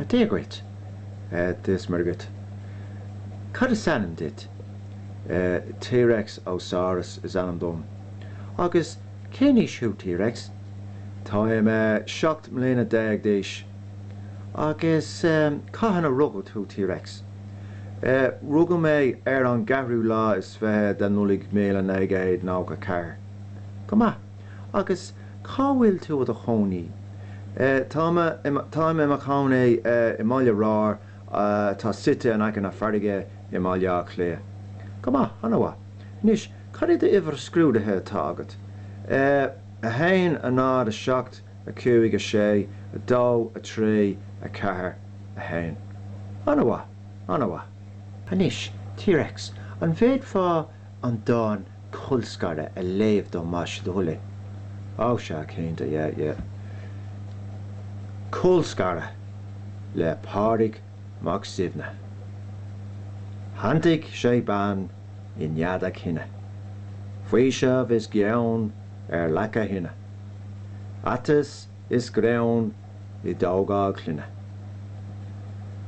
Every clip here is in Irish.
Dia dhuit. Dia is Muire dhuit. Cad is ainm duit? T-Rex Ósaras is ainm dom. Agus cén aois thú, T-Rex? Táim seacht mbliana déag d'aois. Agus cathain a rugadh thú, T-Rex? Rugadh mé ar an gceathrú lá is fiche de Nollaig míle naoi gcéad nócha ceathair. Go maith. Agus cá bhfuil tú i do chónaí? Tá mé i mo, táim i mo chónaí i mBaile Ráir atá suite in aice na farraige i mBaile Átha Cliath. Go maith, an-mhaith. Anois, cad é an uimhir scrúdaithe atá agat? A haon, a náid, a seacht, a cúig, a sé, a dó, a trí, a ceathair, a haon. An-mhaith, an-mhaith. Anois, T-Rex, an bhféadfá an dán Colscaradh a léamh dom más é do thoil é. Á, sea, cinnte, yeah, yeah. Colscaradh le Pádraig Mac Suibhne. Shantaigh sé bean i nead a chine, faoiseamh is gean ar leac a thine, aiteas is greann i dtógáil clainne.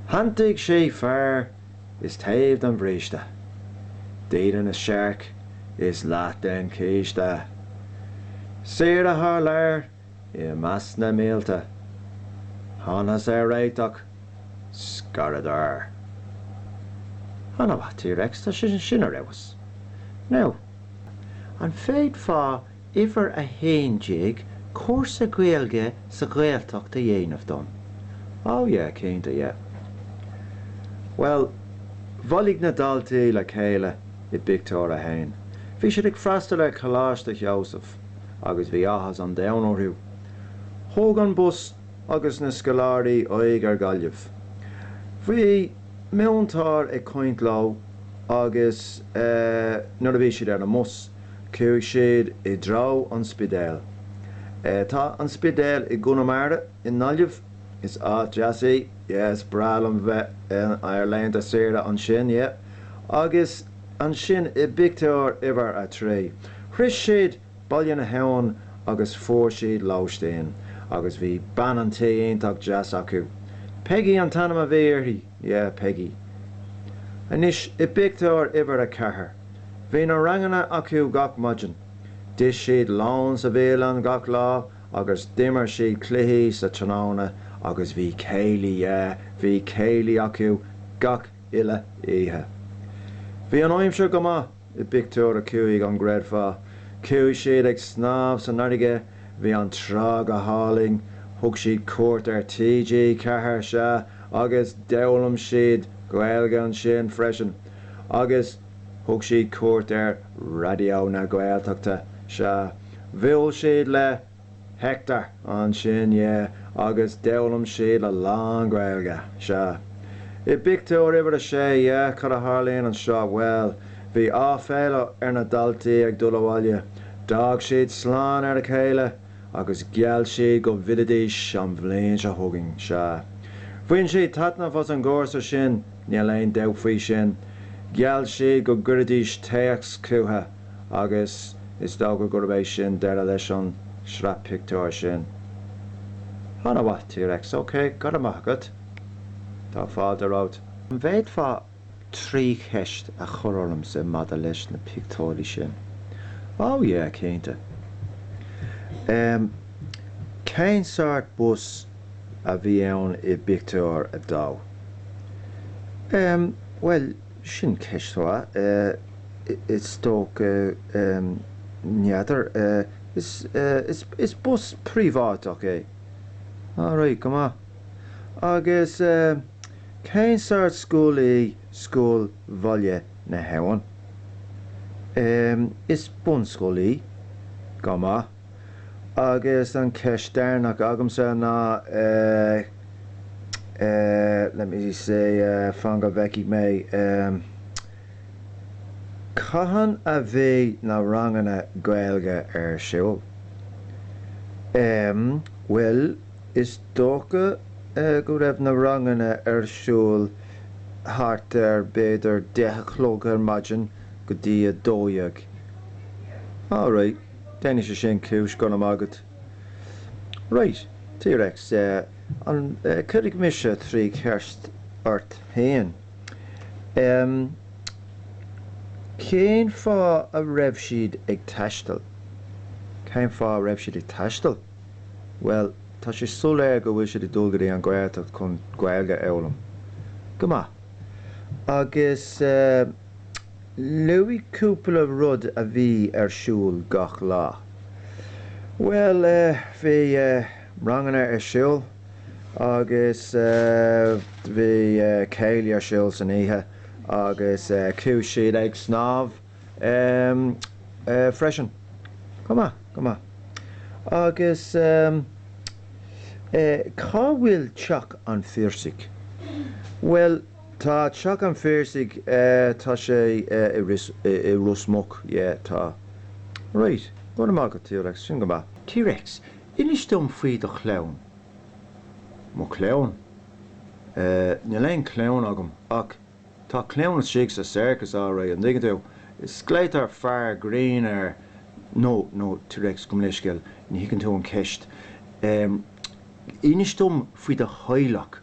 Shantaigh sí fear. is taobh den bhríste, dídean is searc is leath den chíste, saoire thar lear is meas na mílte, thángthas ar réiteach, scaradar. Ana-mhaith T-Rex, tá sé sin ar fheabhas. Now, an bhféadfá. Uimhir 11, Cúrsa Gaeilge sa Ghaeltacht a dhéanamh dom. Oh yeah, cinnte yeah. Bhuel, bhailigh na daltaí le chéile i bpictiúr a haon. Bhí siad ag freastal ar Choláiste Sheosaimh agus bhí áthas an domhain orthu. Thóg an bus agus na scoláirí aghaidh ar Ghaillimh. Bhí múinteoir ag caint leo agus eh nuair a bhí siad ar an mbus, Chuaigh siad i dtreo an Spidéil. Tá an Spidéal i gConamara, i nGaillimh. Is áit deas í. Is breá liom bheith ar laethanta saoire ansin. Agus ansin i bpictiúr uimhir a trí, shroich siad Baile na hAbhann agus fuair siad lóistín. Agus bhí bean an tí iontach deas acu. Peigí an t-ainm a bhí uirthi. Yeah, Peigí. Anois, i bpictiúr uimhir a ceathair, bhí na ranganna acu gach maidin. D'ith siad lón sa bhialann gach lá agus d'imir siad cluichí sa tráthnóna agus bhí céilí, yeah, bhí céilí acu gach uile oíche. Bhí an aimsir go maith. I bpictiúr a cúig, an gcreidfeá? Chuaigh siad ag snámh san fharraige. Bhí an trá go hálainn. Thug siad cuairt ar TG Ceathair, sea, agus d'fhoghlaim siad Gaeilge ansin freisin. Agus thug siad cuairt ar Raidió na Gaeltachta, sea. Bhuail siad le. Hector ansin, yeah, agus d'fhoghlaim siad a lán Gaeilge, sea. I bpictiúr uimhir a sé, yeah, cad a tharlaíonn anseo, bhuel, bhí áiféala ar na daltaí ag dul abhaile, d'fhág siad slán ar a chéile agus gheall siad go bhfillfidís an bhliain seo chugainn, sea. Bhain siad taitneamh as an gcúrsa sin, níl aon dabht faoi sin. Gheall siad go gcuirfidís téacs chucu. agus is dócha gurb é sin deireadh leis an sraith pictiúr sin. Ana mhaith T-Rex, ok, go raibh maith agat. Tá fáilte romhat. An bhféadfá trí cheist a chur ormsa maidir leis na pictiúirí sin? Ó yeah, cinnte. Ehm, cén sort bus a bhí ann i bpictiúr a dó? Ehm, bhuel. Sin ceist mhaith. Is dócha n'fheadar. Is bus príobháideach é. All right, go maith. Agus cén sort scoil í Scoil Bhaile na hAbhann? Is bunscoil í. Go maith. Agus an ceist deireanach agamsa ná eh eh let me see eh fan go bhfeicfidh mé ehm cathain a bheidh na ranganna Gaeilge ar siúl? Ehm bhuel is dócha eh go raibh na ranganna ar siúl thart ar b'fhéidir deich a chlog ar maidin go dtí a dó dhéag. All right. Déanfaidh sé sin cúis go raibh maith agat. Right. T-Rex, cuirfidh mise trí cheist ort fhéin. Ehm, cén fáth a raibh siad ag taisteal? Cén fáth a raibh siad ag taisteal? Bhuel, tá sé soiléir go bhfuil siad ag dul go dtí an Ghaeltacht chun Gaeilge a fhoghlaim. Go maith. Agus eh. Luaigh cúpla rud a bhí ar siúl gach lá. Bhuel eh, bhí eh, ranganna ar siúl agus eh, bhí eh, céilí ar siúl san oíche agus eh, chuaigh siad ag snámh em, eh, freisin. Go maith, go maith. Agus em, eh, cá bhfuil teach an Phiarsaigh? Bhuel. Tá Teach an Phiarsaigh, tá sé, tá sé i Ros Muc, yeah, tá. Right, go raibh maith agat, T-Rex, sin go maith. T-Rex, inis dom faoi do chlann. Mo chlann? Eh, níl aon chlann agam, ach tá clann istigh sa circus, alright, an dtuigeann tú? Is glaotar Fear Grinn air, no, no, T-Rex, gabh mo leithscéal, ní thuigeann tú an cheist. Em, inis dom faoi do theaghlach.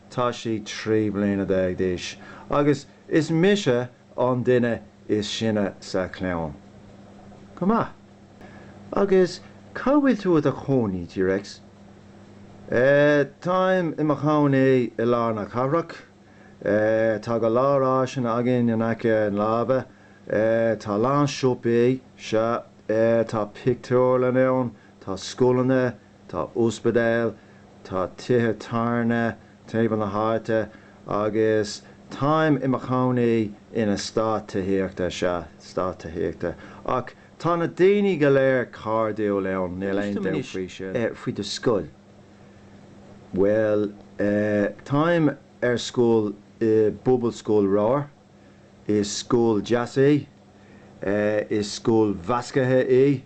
Tá sí trí bliana déag d'aois agus is mise an duine is sine sa chlann. Go maith. Agus cá bhfuil tú i do chónaí, T-Rex? Eh, táim i mo chónaí i lár na cathrach. Eh, tá go leor áiseanna againn in aice láimhe. Eh, tá a lán siopaí, sea. Eh, tá pictiúrlann ann, tá scoileanna, Tá ospidéal, tá tithe tábhairne timpeall na háite agus táim i mo chónaí in eastát tithíochta, sea, eastát tithíochta, ach tá na daoine go léir cairdiúil ann, níl aon dabht faoi sin. Inis dom anois faoi do scoil. Bhuel eh, táim ar scoil i bPobalscoil Ramhar, is scoil deas í, is scoil mheasctha í,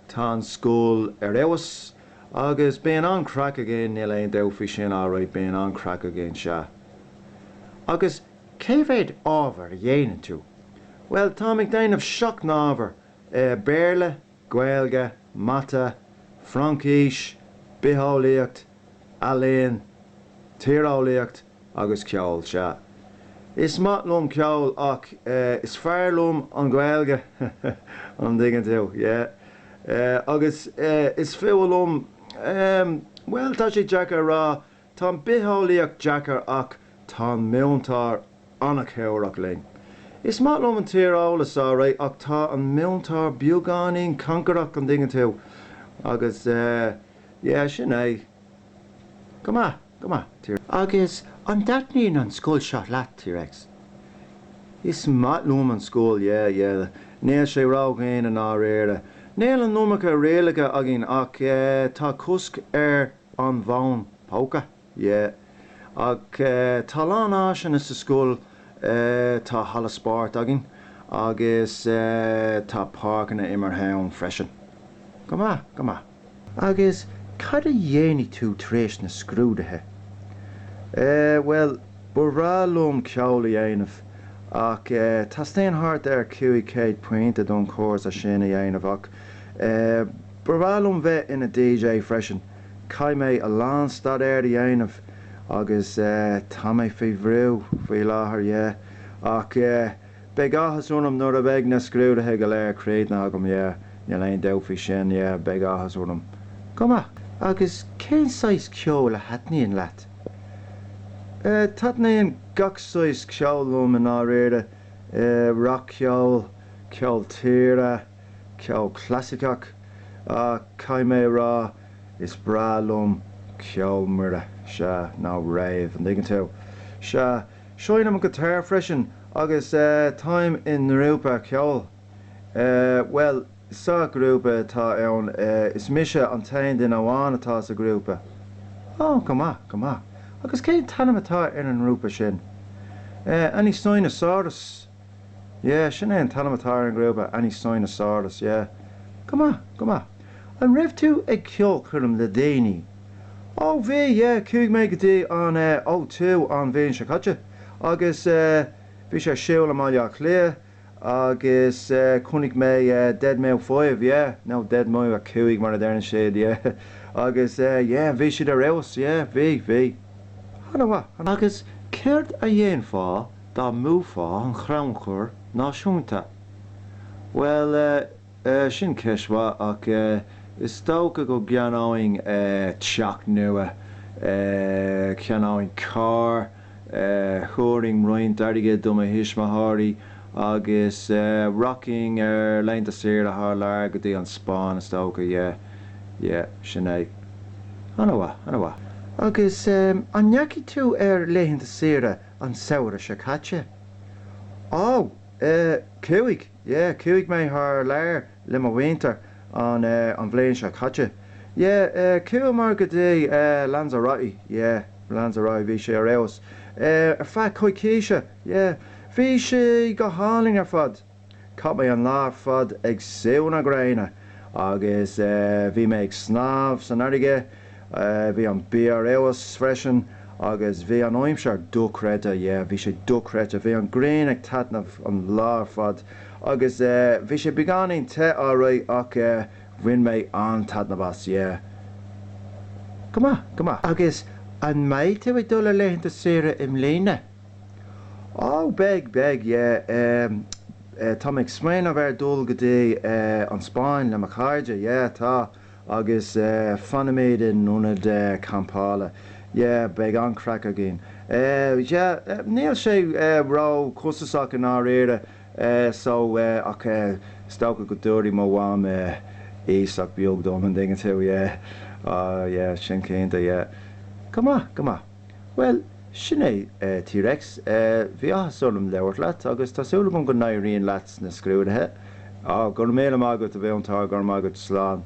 Tá an scoil ar fheabhas agus bíonn an-craic againn, níl aon dabht faoi sin, alright bíonn an-craic againn, sea. Agus cé mhéad ábhar a dhéanann tú? Bhuel, táim ag déanamh seacht n-ábhar, eh, Béarla, Gaeilge, Mata, Fraincis, Bitheolaíocht, Ealaín, Tíreolaíocht, agus ceol, sea. Is maith liom ceol ach eh is fearr liom an Ghaeilge an dtuigeann tú, yeah. Eh agus eh is fuath liom ehm bhuel tá sé deacair a rá, tá an bhitheolaíocht deacair ach tá an múinteoir an-chabhrach linn. Is maith liom an tíreolas alright ach tá an múinteoir beagáinín cancarach an dtuigeann tú agus eh yeah sin é. Go maith, go maith, T-Rex. Agus an dtaitníonn an scoil seo leat, T-Rex? Is maith liom an scoil, yeah, yeah. Níl sé ródhian i ndáiríre. Níl an iomarca rialacha againn ach eh, tá cosc ar an bhfón póca, yeah. Ach eh, tá a lán áiseanna sa scoil eh, tá halla spóirt againn agus eh, tá páirceanna imeartha ann freisin. Go maith, go maith. Agus cad a dhéanfaidh tú tar éis na scrúduithe? Eh, bhuel, ba bhreá liom ceol a dhéanamh ach eh teastaíonn thart ar chúig chéad pointe don chúrsa sin a dhéanamh ach eh ba bhreá liom bheith ina DJ freisin. Caithfidh mé a lán staidéir a dhéanamh agus eh tá mé faoi bhrú faoi láthair, yeah. Ach eh. Beidh áthas orm nuair a bheidh na scrúduithe go léir críochnaithe agam, yeah, níl aon dabht faoi sin, yeah, beidh áthas orm. Go maith. Agus cén saghas ceoil a thaitníonn leat? Eh, taitníonn gach saghas ceoil liom i ndáiríre, eh, rac-cheol, ceol tíre, ceol clasaiceach, ach caithfidh mé a rá is breá liom ceol mire, sea, nó rave, an dtuigeann tú? Sea. Seinnim guitar freisin agus táim i ngrúpa ceoil. Bhuel, sa ghrúpa atá ann is mise an t-aon duine amháin atá sa ghrúpa. Ó, go maith, go maith. Agus cén t-ainm atá ar an ngrúpa sin? Any Sign of Saurus? Yeah, sin é an t-ainm atá ar an ngrúpa, Any Sign of Saurus, yeah. Go maith, go maith. An raibh tú ag ceolchoirm le déanaí? Ó, bhí, yeah, chuaigh mé go dtí an eh O2 an bhliain seo caite agus eh bhí sé ar siúl i mBaile Átha Cliath agus eh chonaic mé eh Deadmau Five, yeah, nó Deadmau a Cúig mar a deireann siad, yeah, agus eh yeah bhí siad ar fheabhas, yeah, bhí, bhí. Ana mhaith, ana mhaith. Agus céard a dhéanfá Dá mbuafá an chrannchur náisiúnta? Bhuel eh, eh, sin ceist mhaith ach eh, is dócha go gceannóinn eh, teach nua, eh, cheannóinn carr, eh, thabharfainn roinnt airgid do mo thuismitheoirí agus eh, rachainn ar laethanta saoire thar lear go dtí an Spáinn is dócha, yeah, yeah, sin é. Ana mhaith, ana mhaith. Agus eh, an ndeachaigh tú ar laethanta saoire an samhradh seo caite. Ó! eh. chuaigh, yeah, chuaigh mé thar lear le mo mhuintir an eh, an bhliain seo caite. Yeah, eh, chuamar go dtí eh, Lanzarote, yeah, Lanzarote, bhí sé ar fheabhas. Eh, ar feadh coicíse, yeah. Bhí sé go hálainn ar fad. Chaith mé an lá ar fad ag sú na gréine agus bhí mé ag snámh san fharraige, bhí an bia ar fheabhas freisin agus bhí an aimsir dochreidte, yeah, bhí sé dochreidte, bhí an ghrian ag taitneamh an lá ar fad agus bhí sé beagáinín te alright ach bhain mé an-taitneamh as, yeah. Go maith, go maith. Agus an mbeidh tú ag dul ar laethanta saoire i mbliana? Ó, beidh, beidh, yeah, eh, eh, tá mé ag smaoineamh ar dhul go dtí, eh, an Spáinn le mo chairde, yeah, tá, agus, eh, fanfaimid in ionad, eh, campála, yeah, beidh an-chraic againn. Eh, yeah, eh, níl sé, eh, ró-chostasach i ndáiríre, eh, so, eh, ach, eh, is dócha go dtabharfaidh mo mham, eh, iasacht bheag dom, an dtuigeann tú, yeah, á, yeah, sin cinnte, yeah. Go maith, go maith. Bhuel, sin é, a T-Rex. Bhí áthas orm labhairt leat, agus tá súil agam go n-éiríonn leat sna scrúduithe. Á, go raibh míle maith agat, a mhúinteoir, go raibh maith agat, slán.